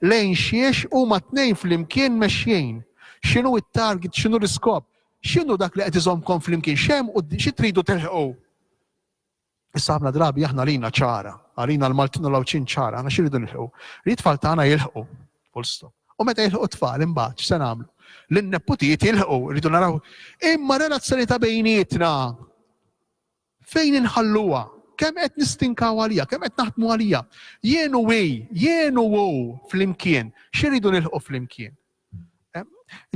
Lejn xiex huma tnejn flimkien mexjin. X'inhu t-target, x'inhu l-iskop, x'inhu dak li qed iżommkom flimkien, x'hemm xi tridu telħqu. Issa ħafna drabi aħna lina ċara, għalina l-Maltin u l-Għawdxin ċara, aħna xiridu nilħu. Li tfal tagħna jilħu, full stop. U meta jilħu tfal imbagħad x'se nagħmlu? L-neputijiet jilħu, rridu naraw. Imma relazzjoni ta' bejnietna fejn inħalluha? Kemm qed nistinkaw għalija, kemm qed naħdmu għalija? Jienu wi, jienu wu flimkien, x'iridu nilħu flimkien? Eh,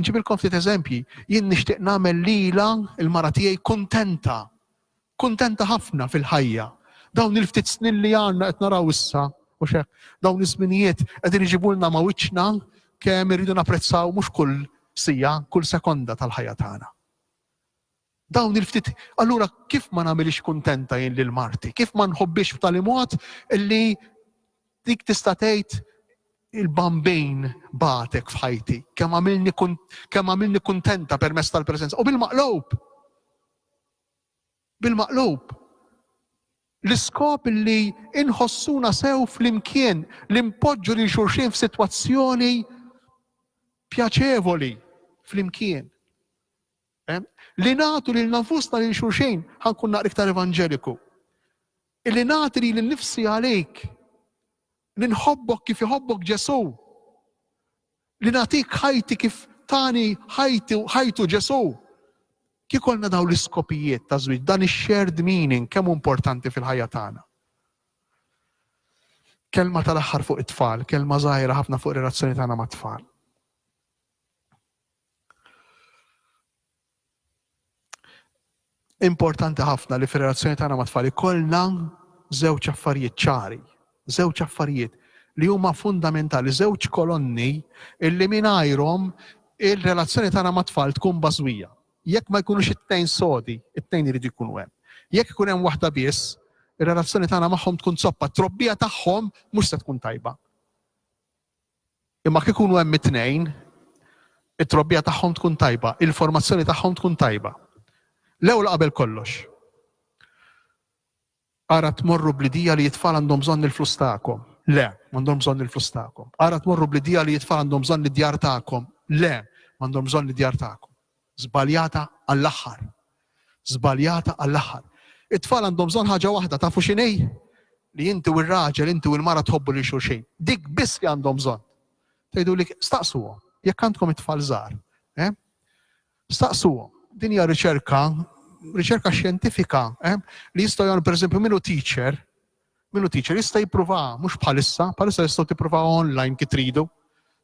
nġibilkom ftit eżempji, jien nixtieq nagħmel lila il-mara tiegħi kuntenta Kuntenta ħafna fil-ħajja. Dawn il-ftit snin li għandna qed naraw issa, mhux hekk? Dawn iż-żminijiet qegħdin iġibulna ma' wiċċna kemm irridu napprezzaw mhux kull siegħa, kull sekonda tal-ħajja tagħna. Dawn il-ftit, allura kif ma nagħmilix kuntenta jien lil marti? Kif ma nħobbix b'tali mod li dik tista' tgħid il-bambin batek f'ħajti, kemm għamilni kuntenta permezz tal-preżenza u bil-maqlub Bil-maqlub, l-iskop li nħossuna sew flimkien, li npoġġu lil xulxin f'sitwazzjoni pjaċevoli flimkien, li nagħtu lilna nfusna lil xulxin, ħa nkun naqra iktar evanġeliku, illi nagħti lili nnifsi għalik, Li nħobbok kif iħobbok Ġesù. Li nagħtik ħajti kif tani ħajtu Ġesù. Kieku jkollna dawn l-iskopijiet taż-żwieġ, dan ix-shared meaning kemm hu importanti fil-ħajja tagħna. Kelma tal-aħħar fuq it-tfal, kelma żgħira ħafna fuq ir-relazzjoni tagħna mat-tfal. Importanti ħafna li fir-relazzjoni tagħna mat-tfal ikollna żewġ affarijiet ċari, żewġ affarijiet li huma fundamentali, żewġ kolonni illi mingħajrhom ir-relazzjoni tagħna mat-tfal tkun bażwija. Jekk ma jkunux it-tnejn sodi, it-tnejn iridu jkunu hemm. Jekk ikun hemm waħda biss, ir-relazzjoni tagħna magħhom tkun zoppa, t-trobbija tagħhom mhux se tkun tajba. Imma jekk ikunu hemm it-tnejn, it-trobbija tagħhom tkun tajba, il-formazzjoni tagħhom tkun tajba. L-ewwel qabel kollox, ara tmorru bl-idea li t-tfal għandhom bżonn il-flus tagħkom. Le, m'għandhom bżonn il-flus tagħkom. Ara tmorru bl-idea li t-tfal għandhom bżonn id-djar tagħkom. Le, m'għandhom bżonn id-djar tagħkom. Żbaljata għall-aħħar. Żbaljata għall-aħħar. It-tfal għandhom bżonn ħaġa waħda, tafu x'inhi? Li inti u r-raġel, inti u l-mara tħobbu lil xulxin. Dik biss li għandhom bżonn. Tgħiduli staqsuhom, jekk għandkom it-tfal żgħar, eh? Staqsuhom, din hija riċerka, riċerka xjentifika, eh? Li jistgħu jagħmlu pereżempju minu teacher, Min hu teacher jista' jippruvaha, mhux bħalissa, bħalissa tistgħu tippruvaw online kif tridu.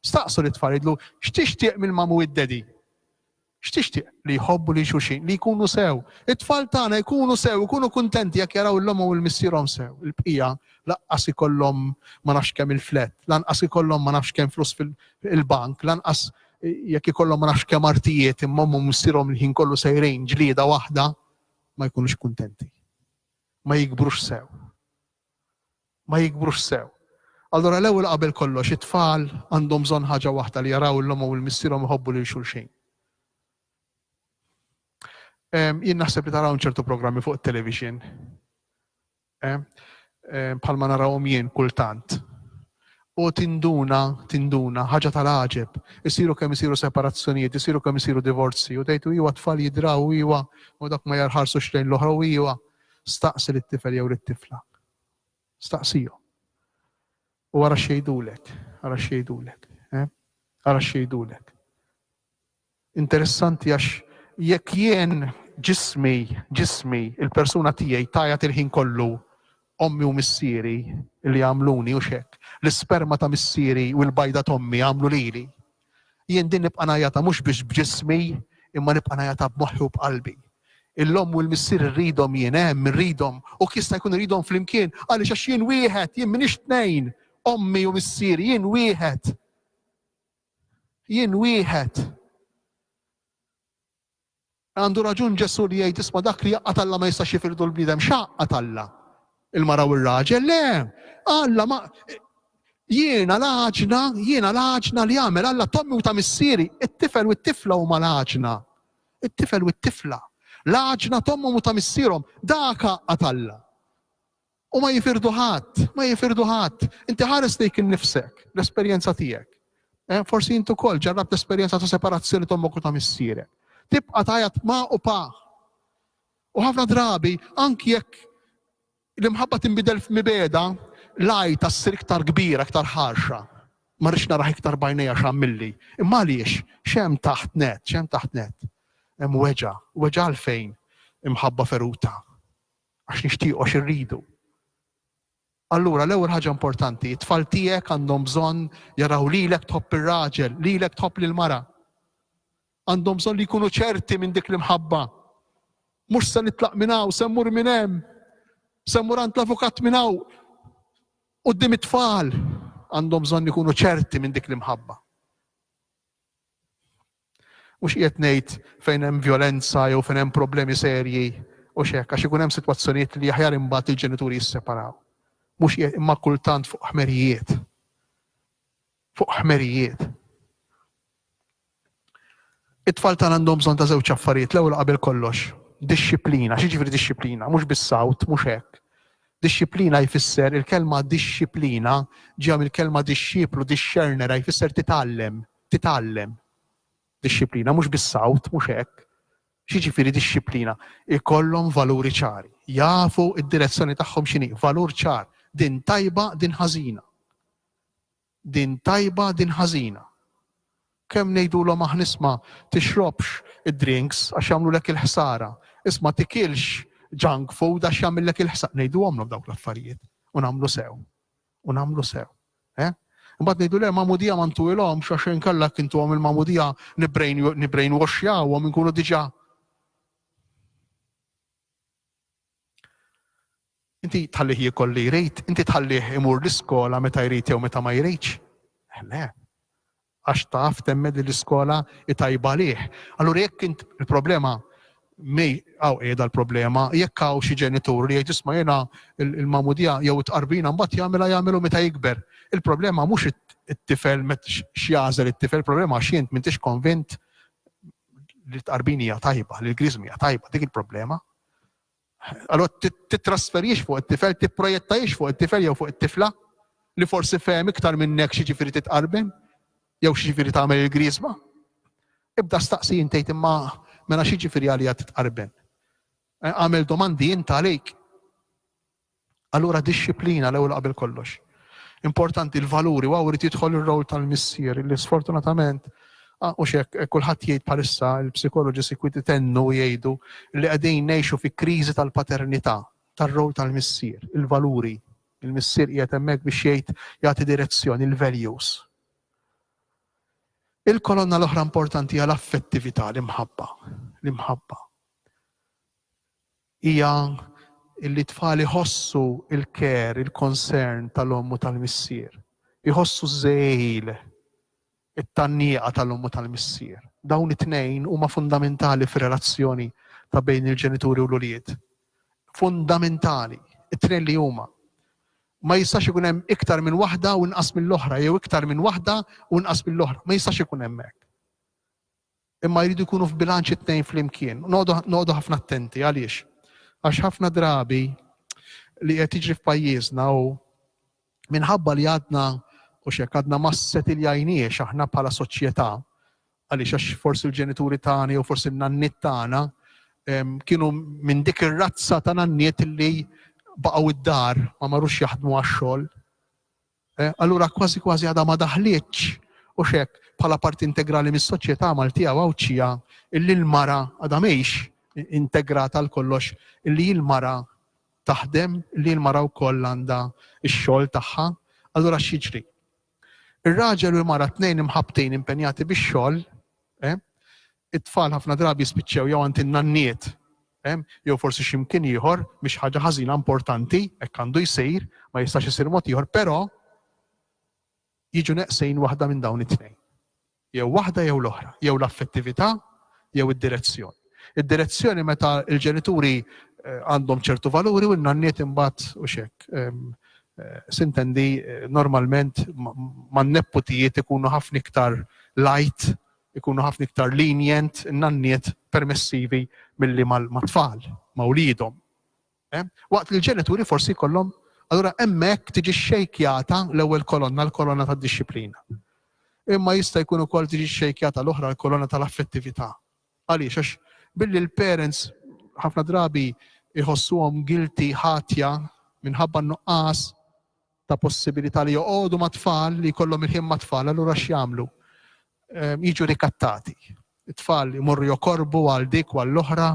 Staqsu li tfal jidlu, x'tixtieq mill-mamu id-dedi? X'tixtieq li jħobbu li xuxin, li jkunu sew. It-tfal tagħna jkunu sew, jkunu kuntenti jekk jaraw l-omhom u l-missierhom sew. Il-bqija lanqas ikollhom ma nafx kemm il-flet, lanqas ikollhom ma nafx kemm flus fil-bank, lanqas jekk ikollhom ma nafx kemm artijiet imma missierhom il-ħin kollu sejrin ġlieda waħda ma jkunux kuntenti. ma jikbrux sew. Ma jikbrux sew. Allura l-ewwel qabel kollox it-tfal għandhom bżonn ħaġa waħda li jaraw lil ommhom u lil missierhom iħobbu lil xulxin. Jien naħseb li taraw ċertu programmi fuq it-television. Bħalma narawhom jien kultant U tinduna, tinduna, ħaġa ta' l-għaġeb, isiru kemm isiru separazzjonijiet, isiru kemm isiru divorzji, u tgħid, u iwa t-tfal jidraw, u iwa, u dawk ma jarħarsux lejn l-oħra, u iwa. Staqsi lit-tifel jew lit-tifla. Staqsihom. U ara x'jgħidulek, ara x'jgħidulek, eh? Ara x'jgħidulek. Interessanti għax jekk jien ġismi, ġismi, il-persuna tiegħi tgħajjat il-ħin kollu, ommi u missieri li għamluni, hux hekk? L-isperma ta' missieri u l-bajda t'ommi għamlu lili. Jien din nibqa' ngħajjatha mhux biss b'ġismi imma nibqa' ngħajjatha b'moħħi u b'qalbi. Il-omm u l-missier irridhom jien, hemm, irridhom, u jekk jista' jkun irridhom flimkien, għaliex għax jien wieħed, jien m'iniex tnejn, ommi u missieri, jien wieħed. Jien wieħed. Għandu raġun Ġesù li jgħid isma' dak li jaqqa' Alla ma jistax jifirdu l-bniedem x'għaqqa Alla. Il-mara u r-raġel, le, Alla ma jiena l-għaġna, jiena l-għaġna li għamel Alla tommi u ta' missieri, it-tifel u t-tifla huma l-għaġna. It-tifel u t-tifla. L-għaġna tommhom u ta' missierhom, dak għaqqa Alla. U ma jifirdu ħadd, ma jifirdu ħadd. Inti ħares lejk innifsek, l-esperjenza tiegħek. Eh, forsi intu kol ġarrab l-esperienza ta' separazzjoni ta' mokku ta' missire. Tibqa tajat ma' u pa. U ħafna drabi, anki jekk l-imħabba timbidel f'mibeda, laj ta' s-sir iktar kbira, iktar ħarxa. Ma rix naraħ iktar bajnija xammilli. Imma għaliex, xem taħt net, xem taħt net. Hemm weġa, weġa għalfejn imħabba feruta. Għax nixtiequ, għax irridu. Allura l-ewwel ħaġa importanti, it-tfal tiegħek għandhom bżonn jaraw lilek tħobb ir-raġel, lilek tħobb lil mara. Għandhom bżonn li jkunu ċerti minn dik l-imħabba. Mhux se nitlaq minn hawn, se mmur minn hemm, se mmur għand l-avukat minn hawn. Qudiem it-tfal għandhom bżonn ikunu ċerti minn dik l-imħabba. Mhux qiegħed ngħid fejn hemm vjolenza jew fejn hemm problemi serji u x'hekk għax ikun hemm sitwazzjonijiet li aħjar imbagħad il-ġenituri jisseparaw. Mhux qiegħed imma kultant fuq ħmerijiet. Fuq ħmerijiet. It-tfal tagħna għandhom bżonn ta' żewġ affarijiet l-ewwel qabel kollox. Dixxiplina, xi ġifieri dixxiplina, mhux bis-sawt, mhux hekk. Dixxiplina jfisser il-kelma dixxiplina ġejja mill-kelma dixxiplu, dixxernera jfisser titgħallem, titgħallem dixxiplina, mhux bis-sawt, mhux hekk. X'jiġifieri dixxiplina? Ikollhom valuri ċari, jafu d-direzzjoni tagħhom x'inhi, valur ċar, din tajba, din ħażina. Din tajba, din ħażina. Kemm ngħidulhom aħna isma' tixrobx id-drinks għax jagħmlulek il-ħsara, isma' tikilx junk food għax jagħmillek il-ħsara. Ngħiduhomlhom dawk l-affarijiet u nagħmlu sew. u nagħmlu sew. Eh? Imbagħad ngħidu le magħmudija ma ntuwilhomx għax inkella kintuhom il-magħmudija nibrejn waxjawhom inkunu diġà. Inti tħallih jikol li jrid, inti tħallih imur l-iskola meta jrid jew meta ma jridx. Eh, le, għax taf temmen li l-iskola hi tajba għalih. Allura jekk int il-problema mi hawn qiegħda l-problema, jekk hawn xi ġenitur li jgħid isma' jiena l-magħmudija jew it-tqarbina mbagħad jagħmilha jagħmilha meta jikber. Il-problema mhux it-tifel x'jagħżel it-tifel, il-problema għax int m'intix konvint li t-tqarbin hija tajba, li l-griżmi hija tajba, dik il-problema. Allura tittrasferix fuq it-tifel, tipprojettajiex fuq it-tifel jew fuq it-tifla li forsi fehem iktar minnek xi ġifieri titqarben jew xi ġifieri tagħmel il-griesba. Ibda staqsi intejt imma mela xi ġifieri għalija titqarben. Eh, għamel domandi int għalik. Allura dixxiplina l-ewwel qabel kollox. Importanti l-valuri, waw irid jidħol ir-role tal-missier illi sfortunatament ah, u xek eh, kulħadd jgħid bħalissa il-psikoloġi sikwiti tennu jgħidu li qegħdin ngħixu fi kriżi tal-paternità tar-rol tal-missier, il-valuri. Il-missier qiegħed hemmhekk biex jgħid jagħti direzzjoni, il-values. Il-kolonna l-oħra importanti għal affettività l-imħabba. L-imħabba. Hija li t-tfal iħossu l-care, il-concern tal-omm u tal-missier. Iħossu ż-żegħil, it-tgħanniqa tal-omm u tal-missier. Dawn it-tnejn huma fundamentali fir-relazzjoni ta' bejn il-ġenituri u l-ulied. Fundamentali! It-tnejn li huma. Ma jistax ikun hemm iktar minn waħda u inqas mill-oħra jew iktar minn waħda u inqas mill-oħra. Ma jistax ikun hemm hekk. Imma jridu jkunu f'bilanċ it-tnejn flimkien. Noqogħdu ħafna attenti. Għaliex? Għax ħafna drabi li qed jiġri f'pajjiżna u minħabba li għadna u xek għadna ma setiljajniex aħna bħala soċjetà għaliex għax forsi l-ġenituri tagħna jew forsi n-nanniet tagħna kienu minn dik ir-razza ta' nanniet li baqgħu id-dar ma marux jaħdmu għax-xogħol. Eh, allura kważi kważi għadha ma daħlietx u xek bħala parti integrali mis-soċjetà Maltija Għawdxija illi l-mara għadha mhix integrata għal kollox illi l-mara taħdem li l-mara wkoll għandha x-xogħol tagħha, allura x'jiġri? Ir-raġel u l-mara tnejn imħabtin impenjati bix-xogħol, eh? It-tfal ħafna drabi jispiċċew jew għand in-nanniet, hemm, jew forsi xi mkien ieħor, mhix ħaġa ħażina importanti, hekk għandu jsir, ma jistax isir mod ieħor, però jiġu neqsin waħda minn dawn it-tnejn. Jew waħda jew l-oħra, jew l-affettività jew id-direzzjoni. Id-direzzjoni meta l-ġenituri eh, għandhom ċertu valuri u n-nanniet imbagħad u xek. Ehm, eh, sintendi eh, normalment man nepputijiet ikunu ħafna iktar light ikunu ħafna iktar lenient in-nanniet permessivi milli mat-tfal, ma' wliedhom. Eh? Waqt li l-ġenituri forsi jkollhom, allura hemmhekk tiġi xejkjata l-ewwel kolonna, l-kolonna tad-dixxiplina. Imma jista' jkun ukoll tiġi xejkjata l-oħra l-kolonna tal-affettività. Għaliex għax billi l-parents ħafna drabi jħossuhom guilty ħatja minħabba nuqqas ta' possibilità li joqogħdu mat-tfal, li jkollhom il-ħin mat-tfal, allura x'jagħmlu? Jiġu rikattati. It-tfal imorru jokorbu għal dik u għall-oħra,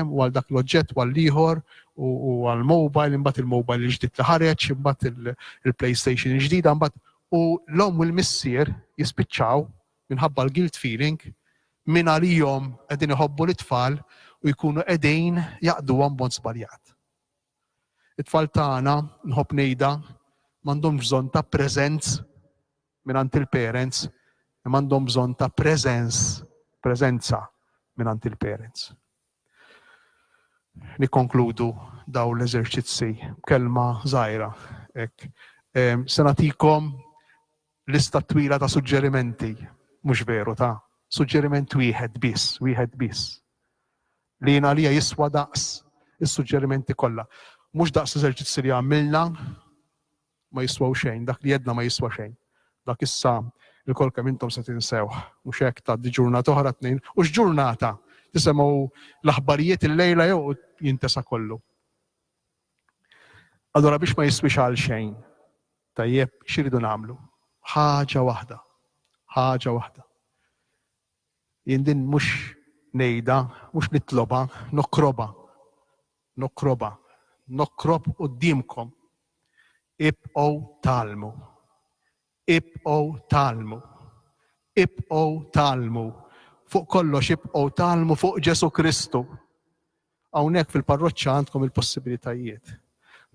u għal dak l-oġġett u għall-ieħor, u għall-mobile, imbagħad il-mobile il-ġdid li ħareġ, imbagħad il-PlayStation il-ġdida, imbagħad u l-omm u l-missier jispiċċaw minħabba l-guilt feeling minn għalihom qegħdin iħobbu lit-tfal u jkunu qegħdin jaqduhom b'mod żbaljat. It-tfal tagħna, nħobb ngħidha, m'għandhomx bżonn ta' presents mingħand il-parents, imma għandhom bżonn ta' preżens, preżenza mingħand il-parents. Nikkonkludu dawn l-eżerċizzi b'kelma żgħira hekk. Ehm, se nagħtikom lista twila ta' suġġerimenti, mhux veru ta' suġġeriment wieħed biss, wieħed biss. Li jien għalija jiswa daqs is-suġġerimenti kollha. Mhux daqs l-eżerċizzji li għamilna ma jiswew xejn, dak li għedna ma jiswa xejn. Dak issa il-kol kemm intom se tinsewh, mhux hekk tgħaddi ġurnata oħra tnejn, u x'ġurnata tisemgħu l-aħbarijiet il-lejla jew jintesa kollu. Allora biex ma jiswix għal xejn, tajjeb xiridu nagħmlu? Ħaġa waħda, ħaġa waħda. Jien din mhux ngħidha, mhux nitlobha, nokkrobha, nokkrobha, nokkrob quddiemkom, Ibqgħu tgħallmu. Ibqgħu tgħallmu. Ibqgħu tgħallmu. Fuq kollox ibqgħu tgħallmu fuq Ġesù Kristu. Hawnhekk fil-parroċċa għandkom il-possibilitajiet.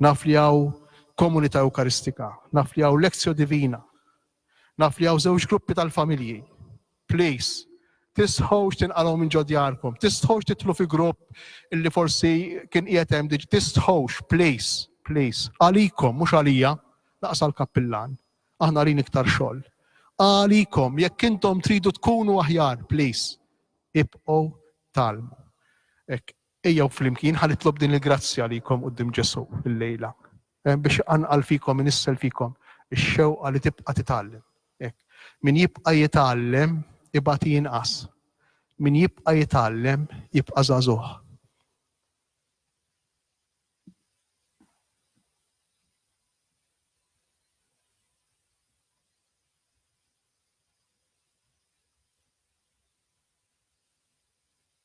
Naf li hawn komunità Ewkaristika, naf li hawn Lexio Divina, Naf li hawn żewġ gruppi tal-familji. Please, tistħux tinqalgħu minn ġo djarkom, tistħux titlu fi grupp illi forsi kien qiegħed hemm diġ, tistħux, please, please. Għalikom, mhux għalija, laqas għall-kappillan. Aħna rin iktar xogħol. Għalikom, jekk intom tridu tkunu aħjar, please, ibqgħu talmu. Ek, Ejjew flimkien, ħa nitlob din il-grazzja għalikom quddiem Ġesù illejla, biex iqanqal fikom, inissel fikom ix-xewqa li tibqa' titgħallem. Hekk. Min jibqa' jitgħallem, ibati jinqas. Min jibqa' jitgħallem, jibqa' żagħżugħ.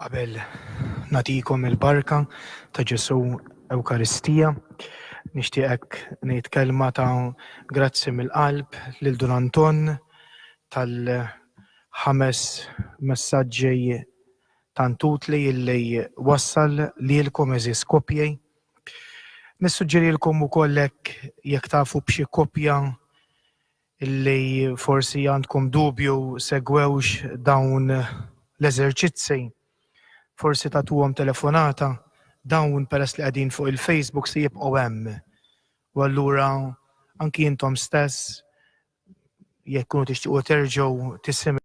Qabel natikom il-barka ta' Ġesu Ewkaristija, nixtieqek ngħid kelma ta' grazzi mill-qalb lil Dun Anton tal-ħames messaġġi tant utli illi wassal lilkom għeżież koppji. Nissuġġerilkom ukoll hekk jekk tafu b'xi koppja illi forsi għandkom dubju segwewx dawn l-eżerċizzi, forsi tagħtuhom telefonata, dawn peress li qegħdin fuq il-Facebook se jibqgħu hemm u allura anki intom stess jekk tkunu tixtiequ terġgħu tisimgħu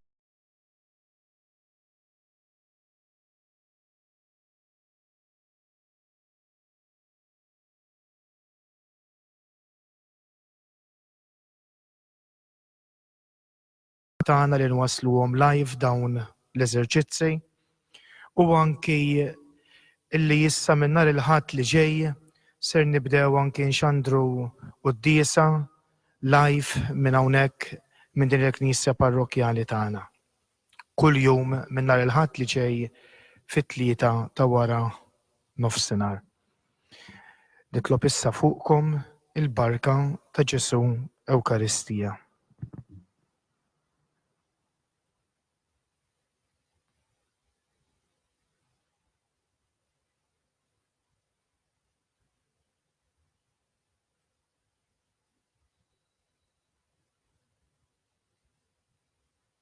tagħna li nwassluhom live dawn l-eżerċizzi u anki illi issa minn nhar il-Ħadd li ġej ser nibdew anki nxandru quddiesa live minn hawnhekk minn din il-Knisja Parrokkjali tagħna. kull jum minn nhar il-Ħadd li ġej fit-tlieta ta' wara nofsinhar. Nitlob issa fuqkom il-barka ta' Ġesù Ewkaristija.